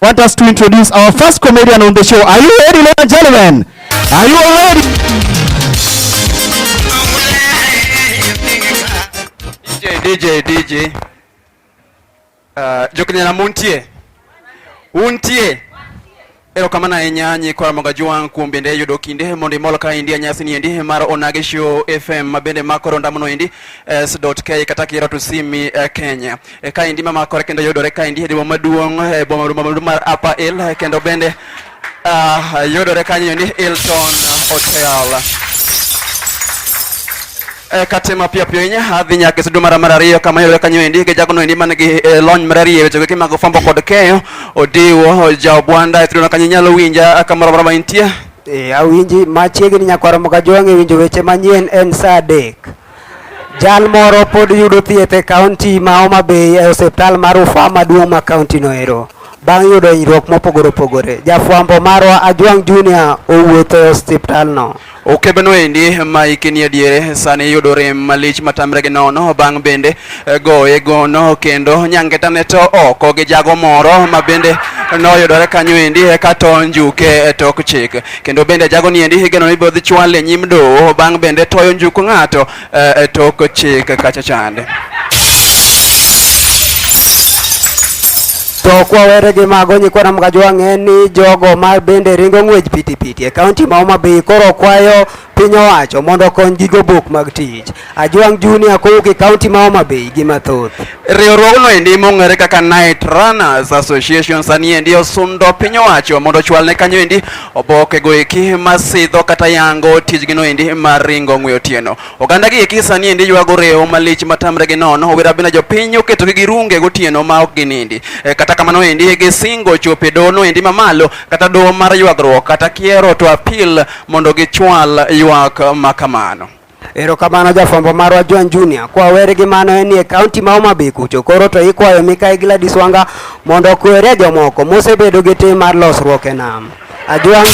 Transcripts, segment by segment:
want us to introduce our first comedian on the show. Are you ready, ladies and gentlemen? Are you all ready? DJ, DJ, DJ. Uh, jokne na muntie. Untie. Ero kama na enyanyi kwa mga juang kumbende yudo kinde mondi mol ka india nyasi ni endi mar onage show fm mabende makoro ndamuno endi s.k kataki ratu simi uh, Kenya. e kaendi mamakore kendo yudore kaendi e demo maduong' e boma maduong' mar Upper Hill e kendo bende uh, yudore kanyo ni Hilton Hotel. E, kate mapiyo piyo inya adhi nyaka e sudu mara mar ariyo kama yudore kanyo endi gi jagono endi man gi e, lony marariyo e weche gi mag fwambo kod keyo Odiwo Jaobwanda e suduno kanyo inyalo winja kamoro amora ma intie. E, awinji machiegni nyakwaromo ka jwang' e winjo weche manyien en saa adek. Jal moro pod yudo thieth e kaunti ma Homa Bay e osiptal mar Rufaa maduong' ma kaunti noero bang' yudo hinyruok mopogore opogore. Jafwambo marwa Ajwang' Junior owuotho e osiptalno. Okebeno endi ma hike ni adiere sani yudo rem malich matamre gi nono bang' bende eh, goye gono kendo nyangetane to oko gi jago moro ma bende noyudore kanyo endi eka to njuke e tok chik. Kendo bende jago ni endi higeno ibiro dhi chwal e nyim doho bang' bende toyo njuku ng'ato eh, e tok chik kacha chande. To kwawere gi mago nyikwa Namgajo wang'e ni jogo ma bende ringo ng'wech pitipiti e kaunti ma Homa Bay koro kwayo Piny owacho mondo okony gi gobok mag tich. Ajwang' Junior kowuok e kaunti ma Homa Bay gi mathoth. Riwruogno endi mong'ere kaka Night Runners Association sani endi osundo piny owacho mondo ochwal ne kanyo endi oboke go eki masidho kata yango tijgino endi mar ringo ng'we otieno. Oganda gi eki sani endi ywago rewo malich matamre gi nono owira bina jopiny oketo gi girunge gotieno ma ok ginindi. E, kata kamano endi gisingo chopo e dohono endi mamalo kata doho mar ywagruok kata kiero to apil mondo gichwal ywak ma kamano. Erokamano jafwambo marwa Joan Junior. Kwa weri gi mano en e kaunti ma Homa Bay kucho. Koro to ikwayo Mikayi Gladys Wanga mondo okwere jomoko mosebedo gi tim mar losruok e nam. Ajuang'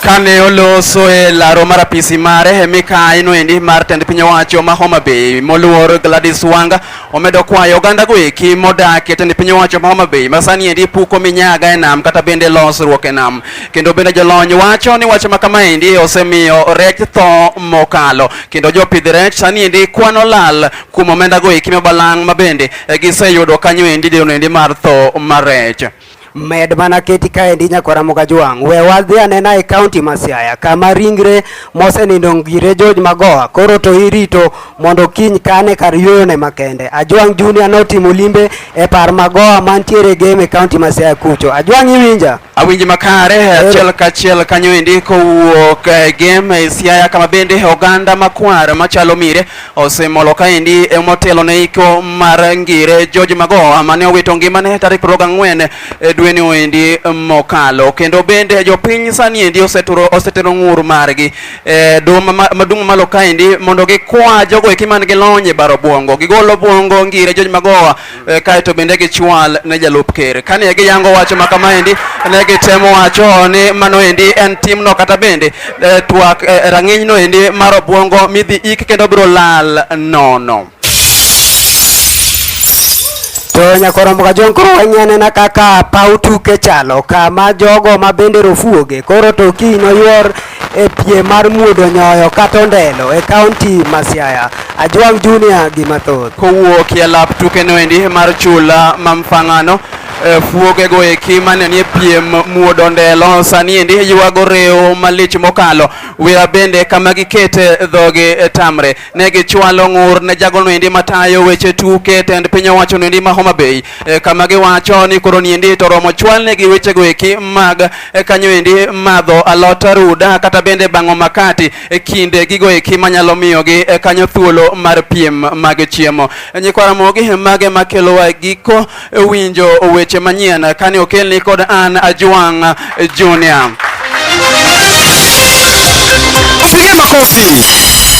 kane oloso e laro mar apisi mare e mikayi noendi mar tend piny owacho ma Homa Bay moluor Gladys Wanga Omedo kwayo oganda go eki modak e tend piny owacho ma Homa Bay masani endi puko minyaga e nam kata bende losruok e nam. Kendo bende jolony wacho ni wach ma kama endi osemiyo rech tho mokalo. Kendo jopidh rech sani endi kwano lal kuom omenda go eki mabalang' ma bende e, giseyudo kanyo endi deno endi mar tho mar rech. Med mana keti kaendi nyakwara Mukajwang', we wadhi anena e kaunti ma Siaya kama ringre mosenindo ngire George Magoha koro to irito mondo kiny kane kar yueyone makende. Ajwang' Junior notimo limbe e par Magoha mantiere game e kaunti ma Siaya kucho. Ajwang' iwinja? Awinji makare eh, achiel kachiel kanyo endi kowuok e game e Siaya kama bende oganda makwar machalo mire Osemolo kaendi emotelo ne iko mar ngire George Magoha mane owito ngimane tarik 24 e dweni oendi mokalo kendo bende jopiny sani endi oseturo osetero ng'ur margi e duma ma- madung' malo kaendi mondo gikwa jogo eki man gi lony e baro bwongo gigolo bwongo ngire George Magoha e, kae to bende gichwal ne jalup ker. Kane giyango wach ma kamaendi, ne gitemo wacho ni mano endi en timno kata bende e, twak e, rang'inyno endi mar obwongo midhi ik kendo biro lal nono. To nyakoromo ka jong koro wanyane na kaka paw tuke chalo kama jogo ma bende rofuoge koro to kiny noyuor e piem mar muodo nyoyo kata ondelo e kaunti ma Siaya. Ajwang' Junior gi mathoth. Kowuok e lap tukeno endi mar chula ma Mfang'ano e, fuogego eki mane nie piem muodo ndelo sani endi ywago rewo malich mokalo wira bende kama gikete dhogi e, tamre ne gichwalo ng'ur ne jagono endi matayo weche tuke tend piny owacho endi ma Homa Bay e, kama giwacho ni koro ni endi to romo chwalne gi wechego eki mag e, kanyo endi madho alot ruda kata bende bang'o makati e kinde gigo eki manyalo miyogi e, kanyo thuolo mar piem mag chiemo e, nyikwa Ramogi mage makelowa giko e, winjo weche manyien kane okelni kod an Ajwang' e, Junior. Piga makofi.